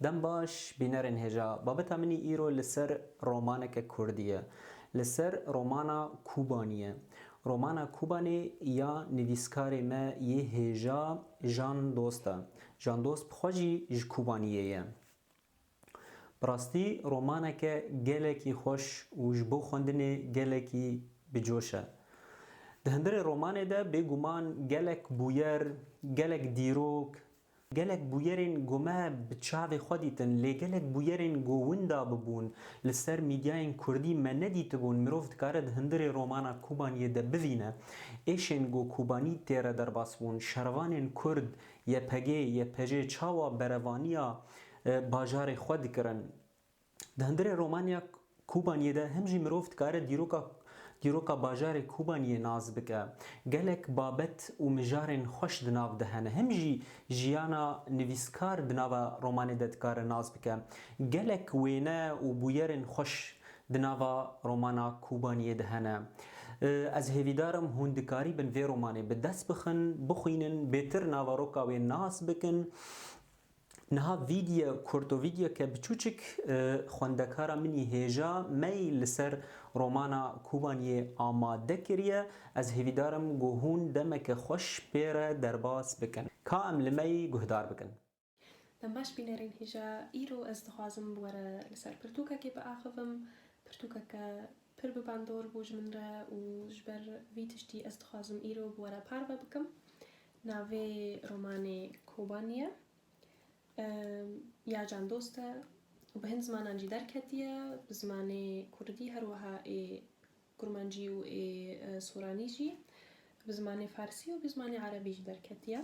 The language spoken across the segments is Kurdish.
Dem baş bînerên hêja, babeta min î îro li ser romaneke kurdî ye. Li ser romana Kûbanî ye. Romana Kûbanî ya nivîskarê me yê hêja Jan Dost e. Candost bi xwe jî ji Kobaniyê ye. Bi rastî romaneke gelekî xweş û ji bo xwendinê gelekî bi coş e. Di hundirê romanê de bêguman gelek bûyer, gelek dîrok, gelek bûyerên ku me bi çavê xwe dîtin lê gelek bûyerên ku winda bibûn li ser mîdyayên kurdî me nedîtibûn mirov dikare di hundirê romana Kobaniyê de bivîne êşên ku Kobanî tê re derbas bûn, şervanên kurd YPG, YPJ çawa berevaniya bajarê xwe dikirin. Di hundirê romanya Kûbaniyê de him jî mirov dikare dîroka dîroka bajarê Kûbaniyê nas bike. Gelek babet û mijarên xweş di nav de hene. Him jî jiyana nivîskar di nava romanê de dikare nas bike. Gelek wêne û bûyerên xweş Di nava romana Kûbaniyê de hene. Ez hêvîdar im hûn dikarîbin vê romanê bi dest bixin, bixwînin, bêtir navaroka wê nas bikin. Niha vîdye kurto vîdyeke biçûçik xwendekara min î hêja me î li ser romana Kûbaniyê amade kiriye. Ez hêvîdar im ku hûn demeke xweş pê re derbas bikin. Ka em li me î guhdar bikin. Dem baş bînerên hîja îro ez dixwazim bi were li ser pirtûkekê biaxivim, pirtûkeke pir bi bandor bû ji min re û ji ber vî tiştî ez dixwazim îro bi were parve bikim. Navê romanê Kobani ye. Ya candost e û bi hin zimanan jî derketiye, bi zimanê kurdî her wiha ê kurmancî û ê soranî jî, bi zimanê farsî û bi zimanê erebî jî derketiye.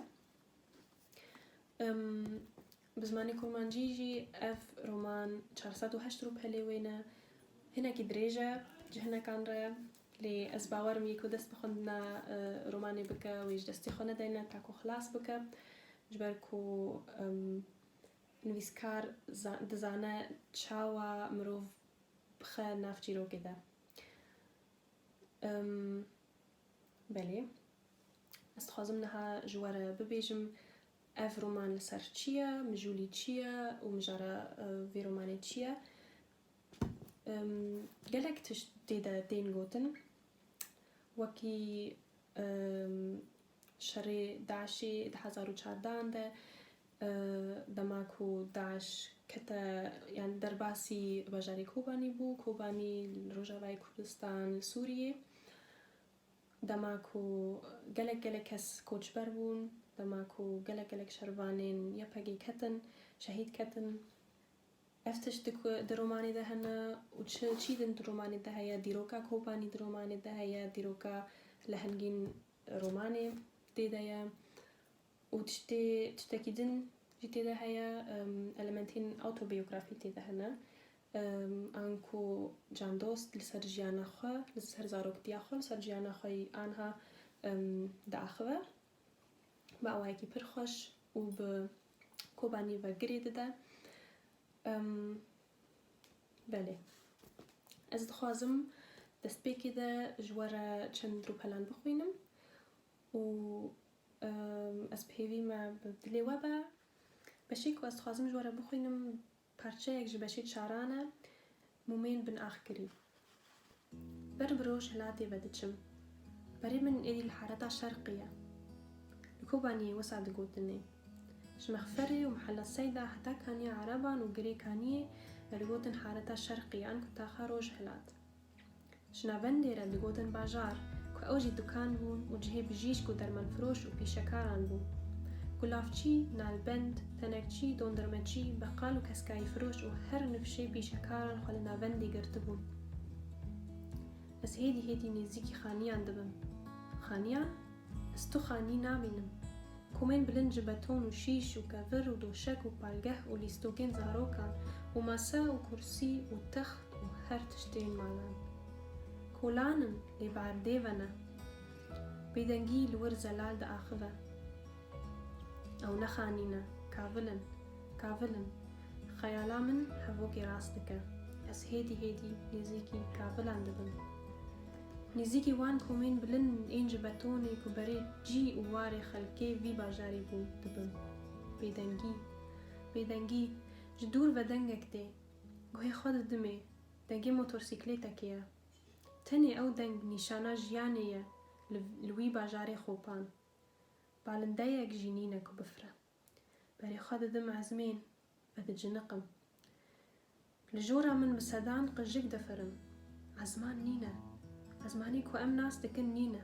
Bi zimanê kurmancî jî ev roman çar sed û heşt rûpelê wê ne. Hinekî dirêj e ji hinekan re lê ez bawer im yê ku dest bi xwendina romanê bike wê ji destê xwe nedayne ta ku xilas bike ji ber ku nivîskar dizane çawa mirov bixe nav çîrokê de. Belê. Ez dixwazim niha ji we re bibêjim ev roman li ser çi ye, mijûlî çi ye û mijara vê romanê çi ye. Gelek tişt tê de tên gotin. Wekî şerê DAIŞ'ê di hezar û çardehan de Dema ku DAIŞ kete yan derbasî bajarê Kobanî bû, Kobanî li Rojavayê Kurdistan li Sûriyê, dema ku gelek gelek kes koçber bûn, dema ku gelek gelek şervanên YPGê ketin, şehîd ketin. Ev tişt di ku di romanê de hene û çi çî din di romanê de heye, dîroka Kobanî di romanê de heye, dîroka lehengîn romanê tê de ye. Û tiştê tiştekî din jî tê de heye, elementên awtobiyografî tê de hene, an ku Can Dost li ser jiyana xwe, li ser zaroktiya xwe, li ser jiyana xwe yî anha diaxive bi awayekî pir xweş û bi Kobanî ve girê dide. Belê. Ez dixwazim destpêkê de ji we re çend rûpelan bixwînim û ez pêvî me bi dilê we be. Beşê ku ez dixwazim ji we re bixwînim parçeyek ji beşê çaran e, mûmên bin axkirî. Ber bi roj hilatê ve diçim. Berê min êdî li Hareta Şerqî ye. Li Kobaniyê wisa digotin ê. Ji Mexferê û Mihella Seyda heta Kaniya Ereban û Girê Kaniyê me digotin Hareta Şerqî yan ku taxa Rojhilat. Ji navendê re digotin bajar, ku ew jî dukan bûn û cihê bijîşk û dermanfiroş û pîşekaran bû. Gulavçî, nalbend, tenekçî, dondurmecî, beqal û keskayîfiroş û her nifşê pîşekaran xwe li navendê girtibûn. Ez hêdî hêdî nêzîkî xaniyan dibim. Xaniyan? Ez tu xanî nabînim. Komên bilind ji beton û şîş û kevir û doşek û palgeh û lîstokên zarokan û masa û kursî û text û her tiştên malan. Kolan in lê bi erdê ve ne. Bêdengî li wir zelal diaxive. Ew nexanîne, kavil in, kavil in. Xeyala min hevokê rast dike. Ez hêdî hêdî nêzîkî kavilan dibim. Nêzîkî wan komên bilin ên ji betonê ku berê cî û warê xelkê vî bajarî bûn dibim. Bêdengî, bêdengî, ji dûr ve dengek tê. Guhê xwe didimê, dengê motorsîklêtekê ye. Tenê ew deng nîşana jiyanê ye li wî bajarê Xopan. Balindeyek jî nîne ku bifire. Berê xwe didim ezmên ve diciniqim. Li jora min bi sedan qijik difirin. Ezman nîne. Ezmanî ku em nas dikin nîne.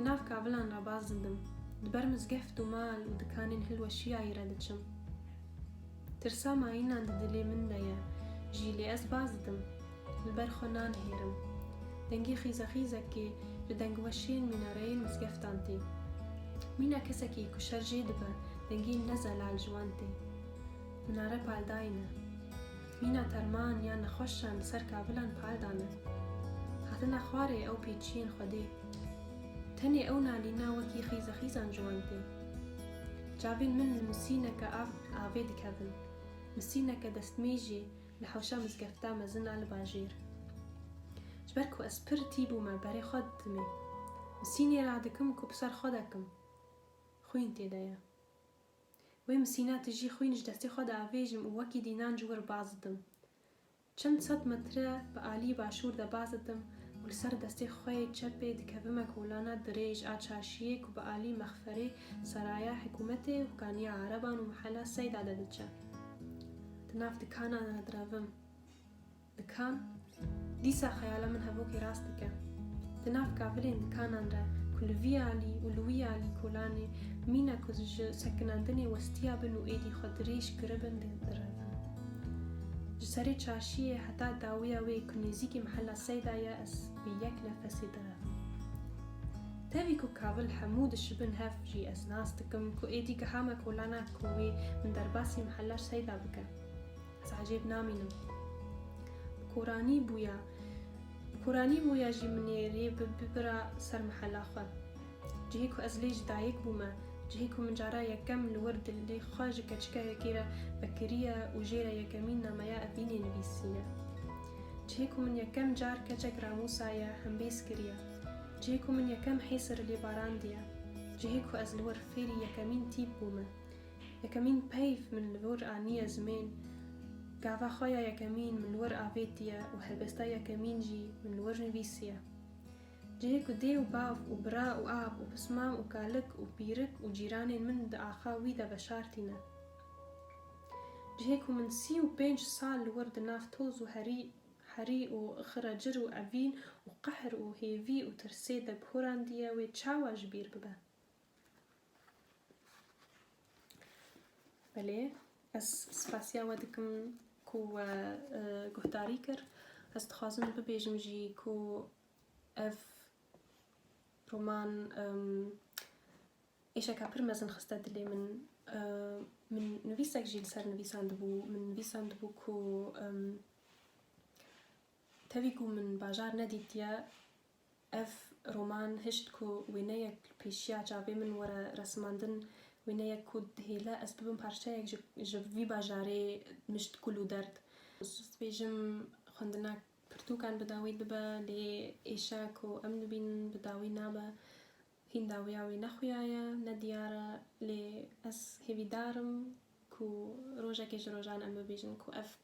Di nav kavilan re baz dibim, di ber mizgeft û mal û dikanên hilweşiyayî re diçim. Tirsa mayînan di dilê min de ye jî lê ez baz didim, li ber xwe nanihêrim. Dengê xîzexîzekê li dengweşiyên mînareyên mizgeftan tê. Mîna kesekî ku şer jê dibe dengê ne zelal ji wan tê. Minare paldayî ne. Mîna terman yan nexweşan li ser kavilan par dane. Hatina xwarê ew pê çiyên Xwedê. Tenê ew nalîna wekî xîze xîzan ciwan tê. Çavên min li misîneke av avê dikevin. Misîneke destmêjî li hewşa mizgefta mezin a li bajêr. Ji ber ku ez pir tî bûme berê xwe didimê. Misînê radikim ku bi ser xwe dekim. Xwîn tê de ye. Wê misîna tijî xwîn ji destê xwe diavêjim û wekî dînan ji wir baz didim. Çend sed metre bi alî başûr de baz didim û li ser destê xwe yê çepê dikevime kolana dirêj a çarşiyê ku bi alî mexferê seraya hikûmetê û kaniya ereban û mihela Seyda de diçe. Di nav dikana de direvim. Dikan, dîsa xeyala min hevokê rast dike. Di nav kavilên dikanan de ku li vî alî û li wî alî kolanê mîna ku ji sekinandinê westiyabin û êdî xwe dirêj kiribin didirevin. Ji serê çarşiyê heta dawiya wê ku nêzîkî mehela Seyda ye ez bi yek nefesê direvim. Tevî ku kavil hemû dişibin hev jî ez nas dikim ku êdî giha me kolana ku wê min derbasî mehela Seyda bike. Ez ecêb namînim. Bi koranî bûya. Bi koranî bûya jî min ê rê bibira ser mihela xwe. Cihê ku ez lê ji dayik bûme, cihê ku min cara yekem li wir dilê xwe ji keçikeyekê re vekiriye û jê re yekemîn nameya evînê nivîsiye. Cihê ku min yekem car keçek ramûsaye hembêz kiriye. Cihê ku min yekem hêsir li lê barandiye. Cihê ku ez li wir fêrî yekemîn tîp bûme. Yekemîn peyv min li wir aniye zimên, gava xwe ya yekemîn min li wir avêtiye û helbesta yekemîn jî min li wir nivîsiye. Cihê ku dê û bav û bira û av û pismam û kalik û pîrik û cîranên min di axa wî de veşartîne. Cihê ku min sî û pênc sal li wir di nav toz û herî herî û xiracir û evîn û qehr û hêvî û tirsê de bi horandiye wê çawa ji bîr bibe? Belê, ez spasiya we dikim ku we guhdarî kir. Ez dixwazim bibêjim jî ku ev roman êşeka pir mezin xiste dilê min. Min nivîsek jî li ser nivîsandibû. Min nivîsandibû ku tevî ku min bajar nedîtiye Ev roman hişt ku wêneyek li pêşiya çavê min were resimandin, wêneyek ku dihêle ez bibim parçeyek ji vî bajarê mişt kul û derd. Ez dibêjim xwendina pirtûkan bi dawî dibe lê êşa ku em dibînin bi dawî nabe. Hîn dawiya wê nexuyaye, ne diyar e lê ez hêvîdar im ku rojekê ji rojan em bibêjin ku ev